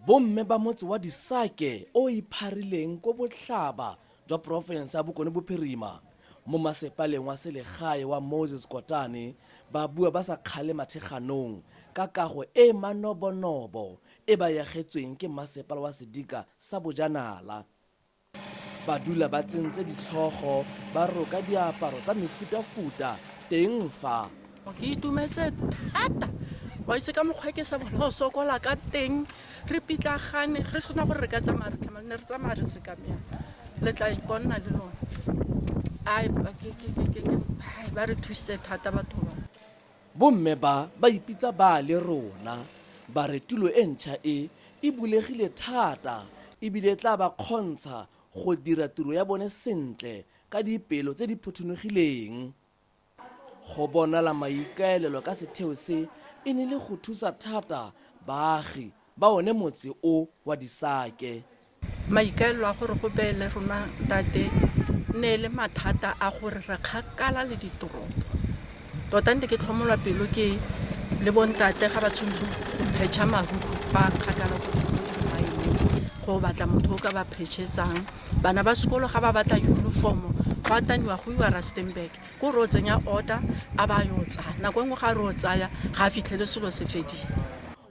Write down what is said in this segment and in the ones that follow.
bomme ba motse wa disake o ipharileng ko botlhaba jwa porofense ya bokone bophirima mo masepaleng wa selegae wa moses kotane ba bua ba sa kgale matheganong ka kago e e manobonobo e ba yagetsweng ke mmasepala wa sedika sa bojanala ba dula ba tsentse ditlhogo ba roka diaparo tsa mefutafuta teng fa ke itumetse thata wa itse ka mokgwa ke sa bona o sokola ka teng re pitlagane re sena gore re ka tsamaya re tlhamane re tsamaya re sekamela le tla iponna le lone ba re thusitse thata batho ba Bomme ba ba ipitsa ba le rona ba re tulo e ntšha e e bulegile thata e bile e tla ba kgontsha go dira tiro ya bone sentle ka dipelo tse di phuthunugileng. Go bonala maikaelelo ka setheo se e ne le go thusa thata baagi ba one motse o wa Disake. Maikaelelo a gore go beele rona ntate ne e le mathata a gore re kgakala le ditoropo. Tota nte ke tlhomolwa pelo ke le bontate ga ba tshwanetse go phetšha mahuku ba kgakala ko dimaeneng go batla motho o ka ba phetšhetsang. Bana ba sekolo ga ba batla uniformo go ataniwa go iwa Rustenburg ko re o tsenya order a ba yo tsaya nako e nngwe ga re o tsaya ga a fitlhele selo se fedile.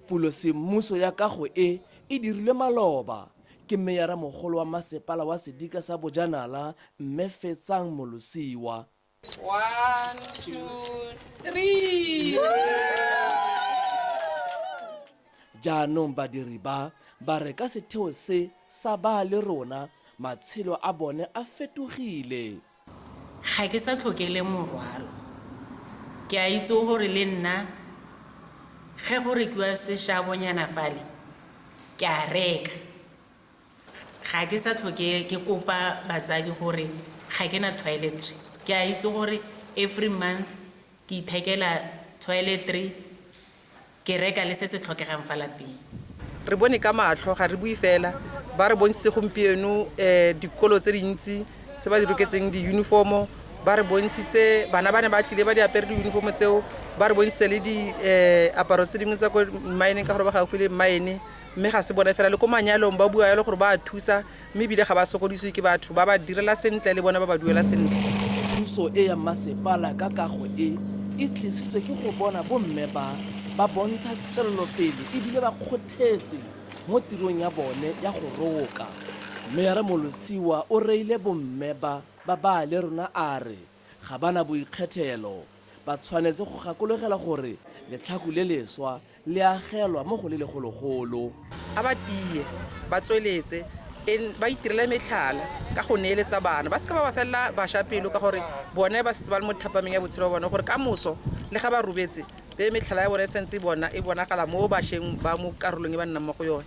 Pulosemmuso ya kago e e dirilwe maloba ke Meyaramogolo wa Masepala wa Sedika sa Bojanala, Mme Fetsang Molosiwa. Jaanong badiri ba, ba re ka setheo se sa Ba le Rona, matshelo a bone a fetogile. Ga ke sa tlhoke le morwalo. Ke a itse gore le nna ge go rekiwa seshabonyana fale ke a reka. Ga ke sa tlhoke ke kopa batsadi gore ga ke na toiletry. Ke a itse gore every month ke ithekela toiletry. Ke reka le se se tlhokegang fa lapeng. Re bone ka matlho, ga re bue fela. Ba re bontshitse gompieno dikolo tse dintsi tse ba di roketseng di-uniform-o. Ba re bontshitse bana ba ne ba tlile ba di apere di-uniform-o tseo. Ba re bontshitse le diaparo tse dingwe tsa ko mmaeneng ka gore ba gaufi le mmaene. Mme ga se bone fela, le ko manyalong ba bua yalo gore ba a thusa, mme ebile ga ba sokodisiwe ke batho ba ba direla sentle le bone ba ba duela sentle thuso e ya masepala ka kago e e tlisitswe ke go bona bomme ba ba bontsha tswelelopele ebile ba kgothetse mo tirong ya bone ya go roka mmeara molosiwa o reile bomme ba ba baya le rona a re Ga ba na boikgethelo. Ba tshwanetse go gakologela gore letlhaku le leswa le agelwa mo go le legologolo. A ba tie, ba tsweletse, en, ba itirele metlhala ka go neeletsa bana. Ba se ka ba ba felela basha pelo ka gore bone ba setse ba le mo thapameng ya botshelo bwa bone gore ka moso le ga ba robetse be metlhala ya bone e sentse e bona, e bonagala mo basheng ba mo karolong e ba nnang mo go yone.